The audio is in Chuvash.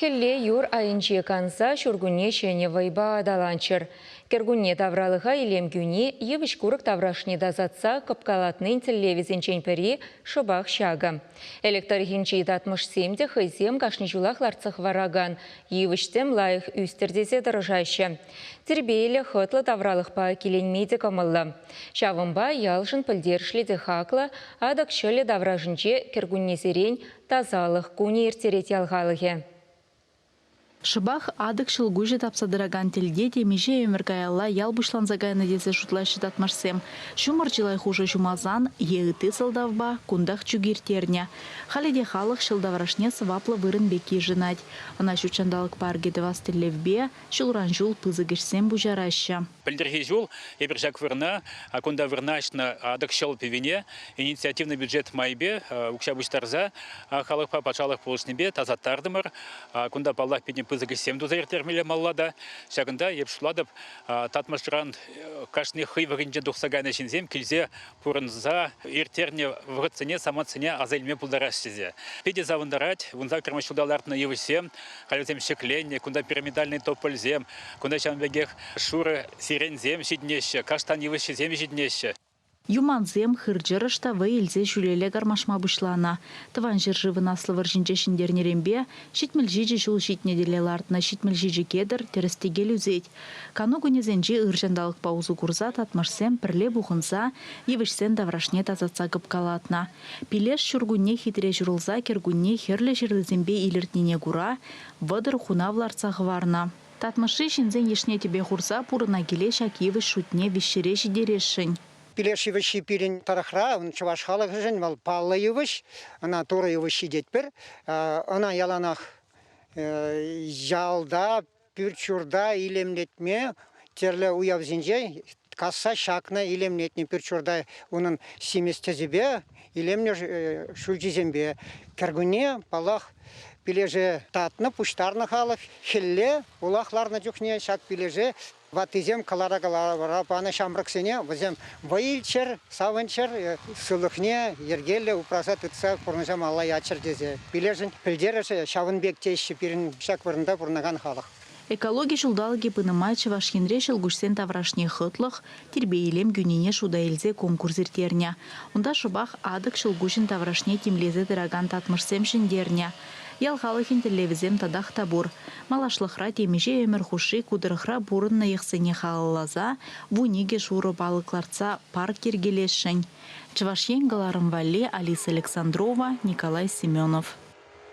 Хӗлле юр айӗнче канса ҫуркунне ҫӗнӗ вӑйпа аталанччӑр. Кӗркунне тавралӑха илем кӳни, йывӑҫ-курӑк таврашне тасатса кӑпкалатнин тӗллевӗсенчен пӗри шӑпах ҫакӑ. Элӗк тӑрӑхӗнчи татмӑшсем те хӑйсем кашни ҫулах лартса хӑваракан йывӑҫ-тӗм лайӑх ӳстӗр тесе тӑрӑшаҫҫӗ. Тирпейлӗ, хӑтлӑ тавралӑхпа киленме те кӑмӑллӑ. Ҫавӑнпа ялшӑн пӗлтерӗшлӗ те хаклӑ Атӑк ҫӑлӗ таврашӗнче кӗркуннесерен Тасалӑх кунӗ ирттерет ял халӑхӗ. Шӑпах Атӑк ҫӑлкуҫӗ тапса тӑракан тӗлте темиҫе ӗмӗр каялла ял пуҫланса кайнӑ тесе шутлаҫҫӗ татмӑшсем. Ҫумӑр чылай хушӑ ҫумалсан е ытти сӑлтавпа кунтах чӳк ирттернӗ. Халӗ те халӑх ҫӑл таврашне сӑваплӑ вырӑн пек йышӑнать. Ӑна ҫут ҫанталӑк паркӗ тӑвас тӗллевпе Ҫулран ҫул пысӑк ӗҫсем пуҫараҫҫӗ. Пӗлтӗрхи ҫул эпир ҫак вырӑна, кунта вырнаҫнӑ Атӑкҫӑл пӗвине, инициативнӑ бюджет майӗпе укҫа пуҫтарса халӑхпа патшалӑх пулӑшнипе тасаттартӑмӑр. Кунта, паллах, питӗ пысӑк ӗҫсем туса ирттермелле малла та. Ҫакӑнта, эп шутлатӑп, Татмӑшран кашни хӑй вӑхӑтӗнчен тухса кайнӑ ҫынсем килсе пурӑнса ирттернӗ вӑхӑтсене, самантсене аса илме пултараҫҫӗ тесе. Питӗ савӑнтарать. Кунта Кӑрмӑш ҫулта лартнӑ йывӑҫсем, халь вӗсем ҫӗкленнӗ. Кунта пирамидальный топольсем, кунта ҫавӑн пекех шурӑ сиреньсем ҫитӗнеҫҫӗ, каштан йывӑҫҫисем ҫитӗнеҫҫӗ. Юмансем, хыр-чӑрӑш та вӑй илсе ҫӳлелле кармашма пуҫланӑ. Тӑван ҫӗршывӑн Аслӑ вӑрҫинче ҫӗнтернӗренпе ҫитмӗл ҫичӗ ҫул ҫитнӗ тӗле лартнӑ ҫитмӗл ҫичӗ кедр тӗрӗс-тӗкел ӳсет, Кану кунӗсенче ыр ҫанталӑкпа усӑ курса татмӑшсем пӗрле пухӑнса йывӑҫсен таврашне тасатса кӑпкалатнӑ. Пилеш ҫуркунне хитре ҫурӑлса кӗркунне хӗрлӗ ҫырлисемпе илӗртнине кура вӑтӑр хунав лартса хӑварнӑ. Татмӑшри ҫынсен йышне тӗпе хурса пурӑна киле ҫак йывӑҫ шутне виҫҫӗре ҫитересшӗн. Пилеш йывӑҫҫи пирӗн тӑрӑхра, чӑваш халӑхӗшӗн вӑл паллӑ йывӑҫ. Ӑна Турӑ йывӑҫҫи тетпӗр. Ӑна яланах ялта пӳрт-ҫурта илемлетме тӗрлӗ уявсенче касса ҫакнӑ илемлетнӗ пӳрт-ҫурта унӑн симӗс тӗсӗпе, илемлӗ ҫӳлҫисемпе. Кӗркунне, паллах, пилеше татнӑ, пуҫтарнӑ халӑх. Хӗлле улах ларнӑ чухне ҫак пилеше ваттисем кӑлара-кӑлара панӑ ҫамрӑксене вӗсем Вӑй илччӗр, савӑнччӑр, сывлӑхне йӗркеллӗ упраса тытса пурнӑҫа малла яччӑр тесе пилешӗн пӗлтерӗшӗ ҫавӑн пек теҫҫӗ пирӗн ҫак вырӑнта пурӑнакан халӑх. Экологи ҫулталӑкӗ пынӑ май Чӑваш Енре ҫӑлкуҫсен таврашне хӑтлӑх, тирпей-илем кӳнине шута илсе конкурс ирттернӗ. Унта шӑпах Атӑк ҫӑлкуҫӗн таврашне тимлесе тӑракан татмӑшсем ҫӗнтернӗ. Ял халӑхӗн тӗллевӗсем татах та пур, малашлӑхра темиҫе ӗмӗр хушши ку тӑрӑхра пурӑннӑ йӑхсене халалласа вун икӗ шурӑ палӑк лартса парк йӗркелесшӗн, Чӑваш Ен кӑларӑм валли Алиса Александрова, Николай Семенов.